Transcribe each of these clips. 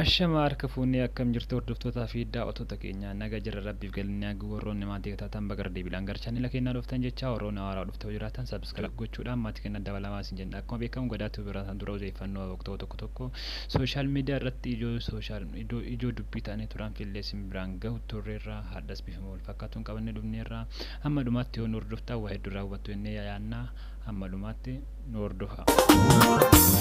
Ashamaa harka fuunee akkam jirtu hordoftootaa fi daawwattoota keenya naga jirra rabbiif galanni haa gahu warroonni maatii taatan baga irra deebiidhaan gara chaanela keenyaa dhuftan jechaa warroonni haaraa dhufta yoo jiraatan subscribe gochuudhaan maatii keenya dabalamaa isin jenna akkuma beekamu gadaa tube irraa isaan dura odeeffannoo waqtoo tokko tokko sooshaal miidiyaa irratti ijoo sooshaal ijoo ijoo dubbii ta'anii turan fillee isin biraan gahu turreerra hardhas bifuma wal fakkaatuun qabannee dhufneerra amma dhumaatti yoo nu hordoftaa waa hedduu irraa hubattu jennee yaadna Hamma dhumaatti nu hordofaa.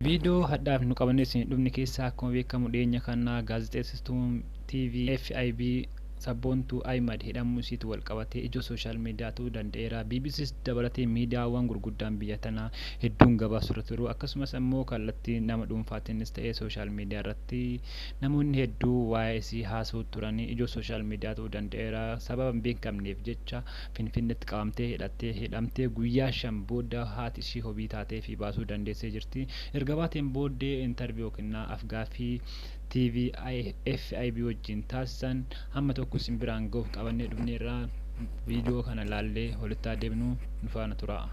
Viidiyoo hadhaaf nu qabannee isin dhufne keessaa akkuma beekamu dhiyeenya kana gaazexeessistuun TV FIB Sabboontuu Ahimad hidhamuu isiitu walqabatee ijoo sooshaal miidiyaa ta'uu danda'eera. BBCs dabalatee miidiyaawwan gurguddaan biyya tanaa hedduun gabaasurra turu. Akkasumas ammoo kallattii nama dhuunfaatiinis ta'ee sooshaal miidiyaa irratti namoonni hedduu waa'ee isii haasa'uu turani. Ijoo sooshaal miidiyaa ta'uu danda'eera. Sababa hin beekamneef jecha Finfinneetti qabamtee hidhattee hidhamtee guyyaa shan booda haati ishii hobii taateefii baasuu dandeessee jirti. Erga baateen booddee interview kennaa afgaaffii TV FIB wajjin taasisan hamma tokko isin biraan ga'uuf qabannee dhufneerra. Viidiyoo kana laallee holittaa deemnu nu faana turaa.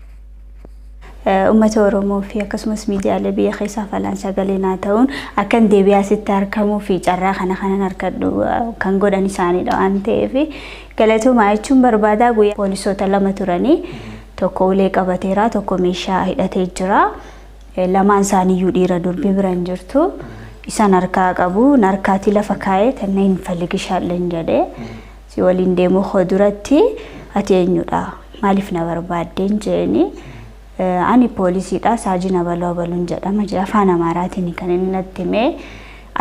Uummata Oromoo fi akkasumas miidiyaalee biyya keessaaf alaan sagalee naa ta'uun akkan deebi'aa sitti argamuu fi carraa kana kanan harkadhu kan godhan isaaniidha waan ta'eef galatoomaa jechuun barbaadaa guyyaa poolisoota lama turanii tokko ulee qabateera tokko meeshaa hidhatee jira. Lamaan isaaniiyyuu dhiira durbi bira hin jirtu. Isan harkaa qabu narkaatii lafa kaa'ee tanna hin faligishaalleen jedhee si waliin deemuu koo duratti ati eenyudha maaliif na barbaaddeen jeeni ani poolisiidha saajii na baluu abaluun jedhama jee afaan amaaraatiin kan inni natti himee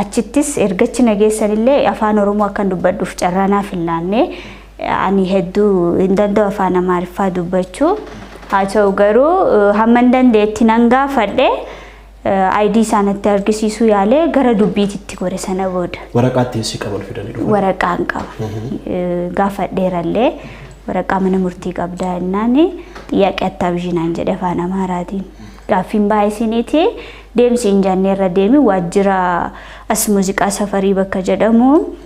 achittis ergachi na geessanillee afaan oromoo akkan dubbadhuuf carraa naaf hin laannee Ani hedduu hin danda'u afaan Amaariffaa dubbachuu. Haa ta'u garuu eh, hamman dandeetti nan gaafadhe ID isaa natti argisiisuu yaalee gara dubbiititti gore sana booda. Waraqaa ittiin si qaban fidanii dhufan. waraqaa hin qaba. Eh, Gaafadheerallee waraqaa mana murtii qabdaa jennaan xiyyaaqee attaa bishinaan jedhe afaan Amaaraatiin. Gaaffiin baay'isiniiti deemsi hin jaanneerra deemi waajjira as muuziqaa safarii bakka jedhamu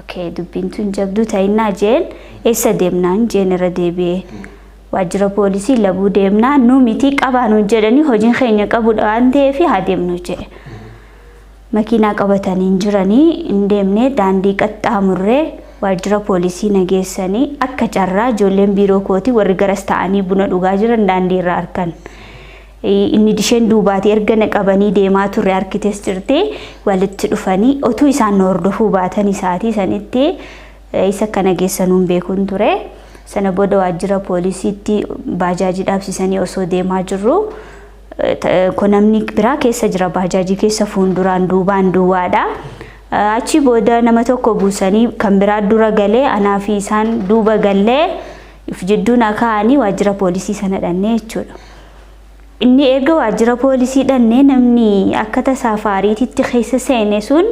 ok dubbiin tun jabduu ta'innaa jeen eessa deemnaan jeen irra deebi'ee waajjira poolisii labuu deemnaa nu mitii qabaa nuun jedhanii hojiin keenya qabudha waan ta'eef haa deemnu jedhe makiinaa qabatanii hin jiranii hin deemne daandii qaxxaamurree waajjira poolisii nageessanii akka carraa ijoolleen biiroo kootii warri garas ta'anii buna dhugaa jiran daandii irraa arkan Inni disheen duubaatii erga na qabanii deemaa turre harkites jirte walitti dhufanii otuu isaan na hordofuu baatan isaatii sanitti isa akka na geessanuun beekuun ture. Sana booda waajjira poolisiitti baajaajii dhaabsisanii osoo deemaa jirru ko namni biraa keessa jira baajaajii keessa fuunduraan duubaan duwwaadha. Achi booda nama tokko buusanii kan biraa dura galee anaa fi isaan duuba gallee Of jidduu na kaa'anii waajjira poolisii sana dhannee jechuudha. Inni erga waajjira poolisii dhannee namni akka tasaa faariititti keessa seene sun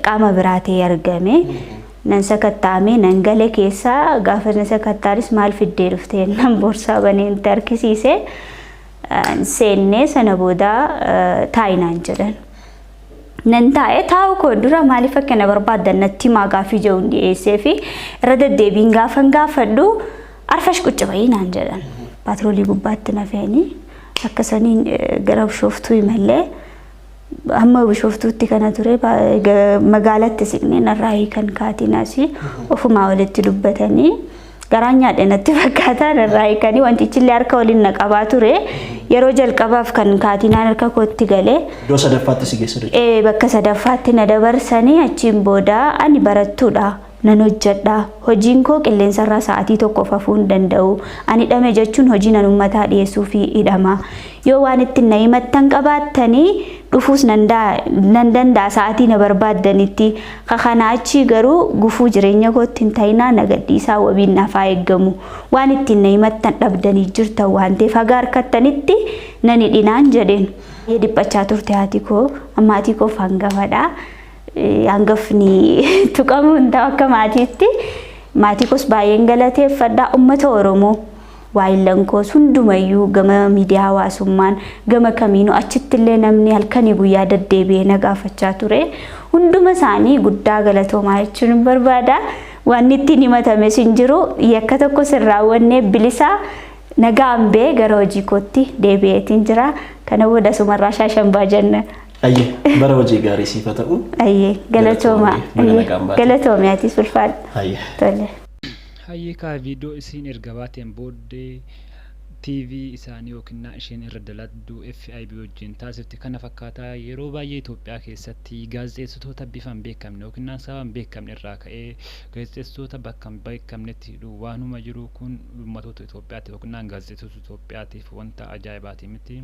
qaama biraa ta'ee argame. Nan sakattaa'ame nan gale keessa gaafa na sakattaanis maal fiddee dhuftee nan boorsaa banee itti harkisiise. Seennee sana booda taa'inaan jedhan. nan taa'e taa'u koo dura maaliif akka na barbaaddan natti himaa gaafii jedhuun dhiyeessee fi irra deddeebiin gaafan gaafadhu arfash qucci bayii naan jedhan paatroolii gubbaatti na fe'anii akka saniin gara bishooftuu imallee amma bishooftuutti kana ture magaalatti siqnee narraa hiikan kaatiin asii ofumaa walitti dubbatanii. garaan nyaadhe natti fakkaata irraa hiikanii wantichillee harka waliin na qabaa ture yeroo jalqabaaf kan kaatinaan harka kootti galee Iddoo sadaffaatti si geessa jechuudha. ee, bakka sadaffaatti na dabarsanii achiin booda ani barattuudha nan hojjedha hojiin koo qilleensarraa sa'aatii tokko fafuu hin danda'u ani hidhame jechuun hojii nan ummataa dhiyeessuu fi hidhama yoo waan ittiin na himattan qabaattanii dhufuus nan daa- nan danda'a sa'aatii na barbaaddanitti Ka kanaa achii garuu gufuu jireenya kootti hin ta'inaa na gadhiisaa wabiin naaf haa eeggamu. Waan ittiin na himattan dhabdanii jirtan waan ta'eef haga harkattanitti nan hidhinaan jedheen. Baay'ee dhiphachaa turte haati koo. Maatii koof hangafadha. Hangafni tuqamuu hin ta'u akka maatiitti. Maatii koos baay'een galateeffadha. Ummata Oromoo. Waayillan koos hundumayyuu gama miidiyaa hawaasummaan gama kamiinuu achittillee namni halkanii guyyaa daddeebi'ee na gaafachaa ture. Hunduma isaanii guddaa galatoomaa jechuun barbaada. Wanni ittiin himatames hin jiru. Yakka tokko sin raawwannee bilisaa nagaan bee gara hojii kootti deebi'eetiin jira. Kana booda sumarraa shaashambaa jenna. Ayyee bara hojii gaarii siif haa ta'u. Ayyee galatoomaa. Galatoomi, baga nagaan baate. Galatoomi atis ulfaadha. Ayyee. Tole. Hayyee kaa video isiin erga baateen booddee TV isaanii yookinnaa isheen irra daladdu FIB wajjin taasifte kana fakkaata yeroo baay'ee Itoophiyaa keessatti gaazexeessitoota bifa hin beekamne yookinnaan sababa hin beekamne irraa ka'ee gaazexeessitoota bakka hin beekamnetti hidhuu waanuma jiru kun uummatoota Itoophiyaatiif yookinnaan gaazexeessitoota Itoophiyaatiif wanta ajaa'ibaati miti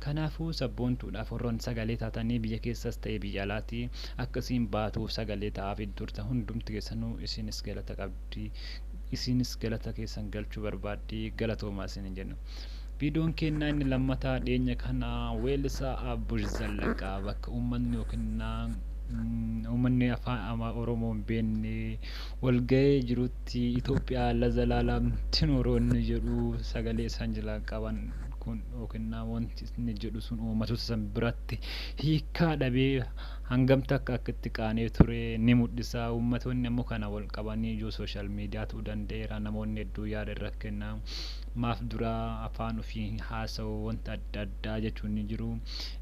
kanaafuu sabboontuudhaaf warroon sagalee taatanii biyya keessas ta'e biyya alaati akka isiin baatuuf sagalee ta'aafii turtan hundumti keessanuu isiinis galata qabdu. qabdi. Isiinis galata keessan galchuu barbaaddi. Galatoomaa isiniin jenna. Viidiyoon keenya inni lammataa dhiyeenya kana weellisaa Abbush Zallaqaa bakka uummanni yookiin uummanni afaan ama Oromoo hin beekne walga'ee jirutti Itoophiyaa lazalaalaam tinooroo inni jedhu sagalee isaan jalaa qaban kun yookiin wanti inni jedhu sun uummatoota san biratti hiikaa dhabee hangam takka akka itti qaana'ee ture ni mul'isa. Uummatoonni ammoo kana wal qabanii ijoo social media ta'uu danda'eera. Namoonni hedduu yaada irra kenna. Maaf dura afaan ofii hin haasa'u wanta adda addaa jechuun ni jiru.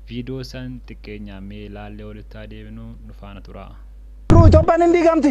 Viidiyoo san xiqqeenyaan mee ilaallee walitti haa deebinu nu faana turaa. Itoophiyaan hin diigamti!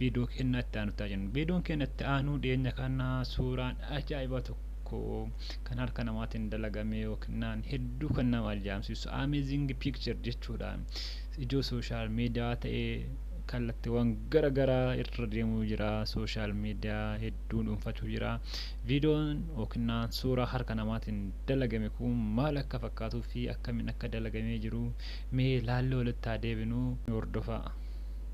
Viidiyoo keenya itti aanutti jenna. Viidiyoon keenya itti aanuu dhiyeenya kana suuraan ajaa'iba tokko kan harka namaatiin dalagame yookiin hedduu kan nama ajaa'ibsiisu amazing picture jechuudha. Ijoo sooshaal miidiyaa ta'ee kallattiiwwan gara garaa irra deemuu jira. Sooshaal miidiyaa hedduu dhuunfachuu jira. Viidiyoon yookiin suuraa harka namaatiin dalagame kun maal akka fakkaatuu fi akkamiin akka dalagamee jiru mee laalloo walitti haa deebinu hordofaa.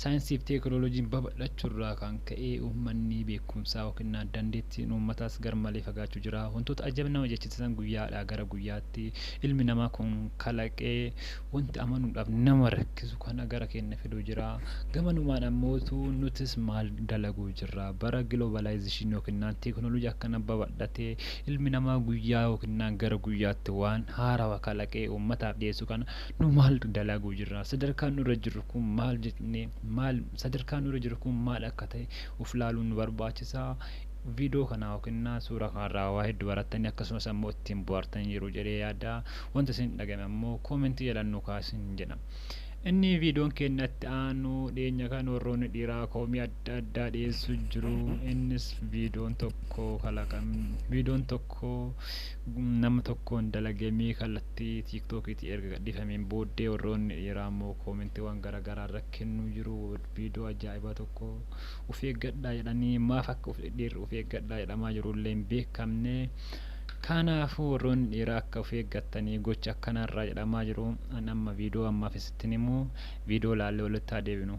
Saayinsii fi teekinooloojiin babal'achuu irraa kan ka'e uummanni beekumsaa yookiin dandeettiin uummataas garmalee fagaachuu jira. Wantoota ajab nama jechisiisan guyyaadhaa gara guyyaatti ilmi namaa kun kalaqee wanti amanuudhaaf nama rakkisu kana gara keenya fiduu jira. Gamanumaan ammootu nutis maal dalaguu jirra? Bara giloobalaayizishinii yookiin teekinooloojii akkana babal'atee ilmi namaa guyyaa yookiin gara guyyaatti waan haarawa kalaqee uummataaf dhiyeessu kana nu maaltu dalaguu jirra sadarkaan nurra jirru kun maal jennee maal sadarkaan nurra jirru kun maal akka ta'e uf laaluun nu barbaachisa viidoo kanaa yookiin suuraa kanarraa waa hedduu barattanii akkasumas ammoo ittiin bu'aartan yeroo jedhee yaada wanta isin dhagame ammoo koomentii jalaan nu kaasin jedha inni viidoon keenyatti aanu dhiyeenya kan warroonni dhiiraa koomii adda addaa dhiyeessu jiru innis viidoon tokko kalaqan viidoon tokko nama tokkoon dalagamee kallattii irratti tiiktokiitii erga gadhiifameen booddee warroonni dhiiraa immoo koomentiiwwan gara garaa irra kennuu jiru viidoo ajaa'ibaa tokko uf eeggadhaa jedhanii maaf akka uf dhiirri uf eeggadhaa jedhamaa jiru illee hin beekamne kaanaafuu warroonni dhiiraa akka uf eeggattanii gocha akkanaarraa jedhamaa jiru an amma viidoo ammaaf isittin himu viidoo laallee walitti haa deebinu.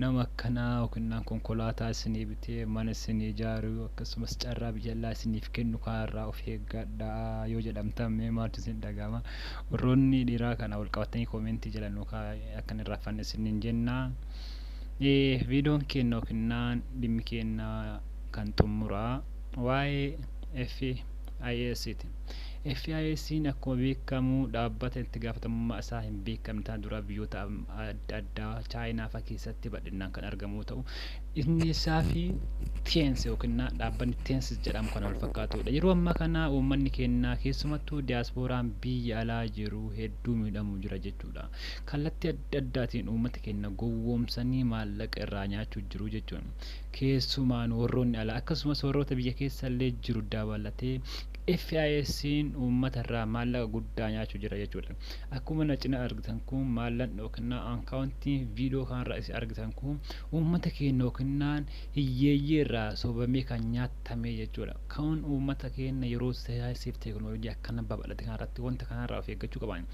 nama akkanaa yookinnaan konkolaataa isinii bitee mana isinii ijaaru akkasumas carraa biyya allaa isiniif kennu kanarraa of eeggadhaa yoo jedhamtan mee maaltu isin dhaga'ama warroonni dhiiraa kana wal qabatanii koomentii jala nu kaa akka hin irraaffanne isiniin jenna viidoon keenna yookinnaan dhimmi keenna kan xummuraa waa'ee FIS ti. FISn akkuma beekamu dhaabbata itti gaafatamummaa isaa hin beekamne tana dura biyyoota adda addaa Chaayinaa faa keessatti bal'inaan kan argamu yoo ta'u inni isaa fi Teens yookiin dhaabbanni Teens jedhamu kan wal fakkaatudha. Yeroo ammaa kana uummanni keenyaa keessumattuu diyaaspooraan biyya alaa jiru hedduu miidhamuu jira jechuudha. Kallattii adda addaatiin uummata keenya gowwoomsanii maallaqa irraa nyaachuu jiru jechuun Keessumaan warroonni alaa akkasumas warroota biyya keessallee jiru dabalatee FISn uummata irraa maallaqa guddaa nyaachu jira jechuudha. Akkuma na cina argitan kun maallan dhookinnaa ankaawuntiin viidoo kanarra isin argitan kun uummata keenna yookinnaan hiyyeeyyii irraa sobamee kan nyaattamee jechuudha. Kaun uummata keenna yeroo sayaaysiif teeknooloojii akkana babal'ate kanarratti wanta kanarraa of eeggachuu qaban.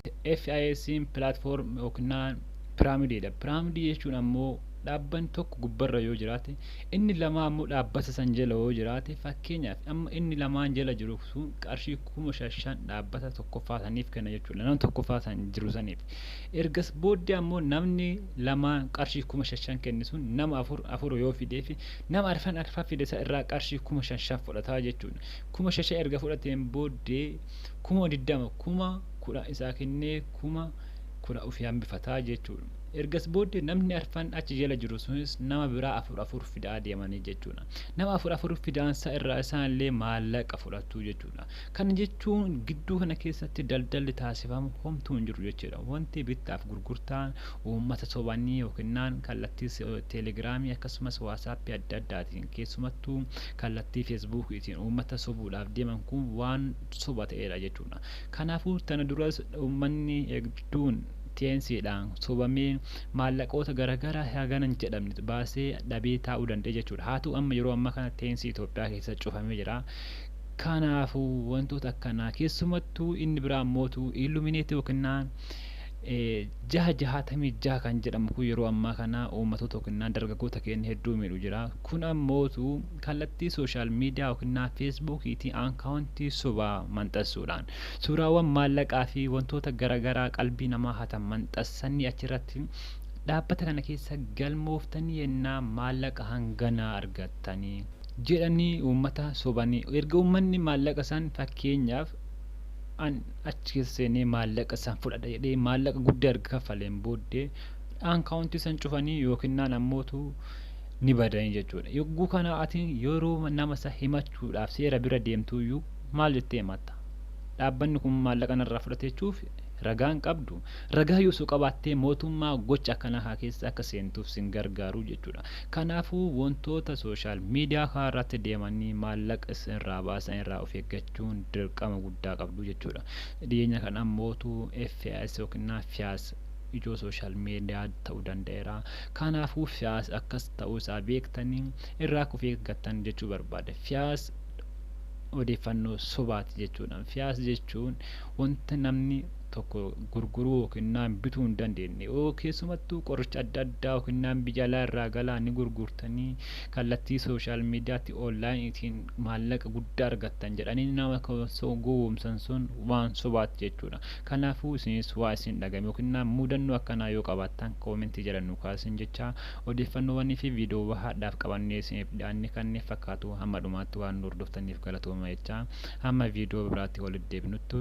FISn platform yookinnaan piraamidiidha. Piraamidii jechuun ammoo Dhaabbanni tokko gubbarra yoo jiraate, inni lamaa ammoo dhaabbata san jala yoo jiraate, fakkeenyaaf amma inni lamaan jala jiru sun qarshii kuma shan shan dhaabbata tokkoffaa saniif kenna jechuudha. Nama tokkoffaa san jiru saniif. Ergas booddee ammoo namni lamaan qarshii kuma shan shan kenne sun nama afur afur yoo fideefi nama arfan arfan fide san irraa qarshii kuma shan shan fudhata jechuudha. Kuma shan shan erga fudhateen booddee kuma diddama kuma kudhan isaa kennee kuma kudhan ofii hambifata jechuudha. Ergas booddee namni arfan achi jala jiru sunis nama biraa afur afur fidaa deemanii jechuudha. Nama afur afur fidaan sa irraa isaan illee maallaqa fudhatu jechuudha. Kana jechuun gidduu kana keessatti daldalli taasifamu homtuu hin jiru jechuudha. Wanti bittaaf gurgurtaan uummata sobanii yookinnaan kallattii teelegiraamii akkasumas waasaappii adda addaatiin keessumattuu kallattii feesbuukiitiin uummata sobuudhaaf deeman kun waan soba ta'eedha jechuudha. Kanaafuu tana duras uummanni hedduun teensiidhaan sobamee maallaqoota garagaraa hagana hin jedhamne baasee dhabee taa'uu danda'e jechuudha. Haa ta'u amma yeroo ammaa kana teensii Itoophiyaa keessa cufamee jira. Kanaafuu wantoota akkanaa keessumattuu inni biraa mootu illumineetii yookinnaan jaha jahaatamii jaha kan jedhamu kun yeroo ammaa kana uummatoota yookinnaan dargaggoota keenya hedduu miidhu jira. Kun ammootu kallattii sooshaal miidiyaa yookinnaa feesbuukiitiin aankaawuntii sobaa manxassuudhaan Suuraawwan maallaqaa fi wantoota garagaraa qalbii namaa hatan manxassanii achirratti dhaabbata kana keessa galmooftanii yennaa maallaqa hanganaa argattani jedhanii uummata sobanii erga uummanni maallaqa san fakkeenyaaf an achi keessa seenee maallaqa san fudhadha jedhee maallaqa guddaa erga kaffaleen booddee aankaawuntii san cufanii yookinnaan ammootu ni badanii jechuudha. Yogguu kana ati yeroo nama isa himachuudhaaf seera bira deemtuyyuu Maal jettee himatta? Dhaabbanni kun maallaqa narraa fudhate jechuuf ragaa hin qabdu? Ragaa yoo osoo qabaattee mootummaa gocha akkanaa kaa keessa akka seentuuf sin gargaaru jechuudha. Kanaafuu wantoota social media kaa irratti deemanii maallaqa isin irraa baasan irraa of eeggachuun dirqama guddaa qabdu jechuudha. Dhiyeenya kana ammootu FIS yookiin FIAS ijoo social media ta'uu danda'eera. Kanaafuu FIAS akkas ta'uu isaa beektanii irraa akka of eeggattan jechuu barbaada. FIAS odeeffannoo sobaati jechuudha. Fiyaas jechuun wanta namni tokko gurguruu yookiin bituu hin dandeenye yoo keessumattuu qoricha adda addaa yookiin biyya alaa irraa galaa ni gurgurtanii kallattii sooshaal miidiyaatti oonlaayiniitiin maallaqa guddaa argattan jedhanii nama gowwoomsan sun waan sobaati jechuudha. Kanaafuu isinis waa isin dhagame yookiin mudannoo akkanaa yoo qabaattan koomentii jala nu kaasin jecha Odeeffannoowwanii fi viidiyoowwa hardhaaf qabannee isiniif dhiyaanne kanneen fakkaatu hamma dhumaatti waan nu hordoftaniif galatooma jechaa hamma viidiyoo biraatti walitti deebinuttu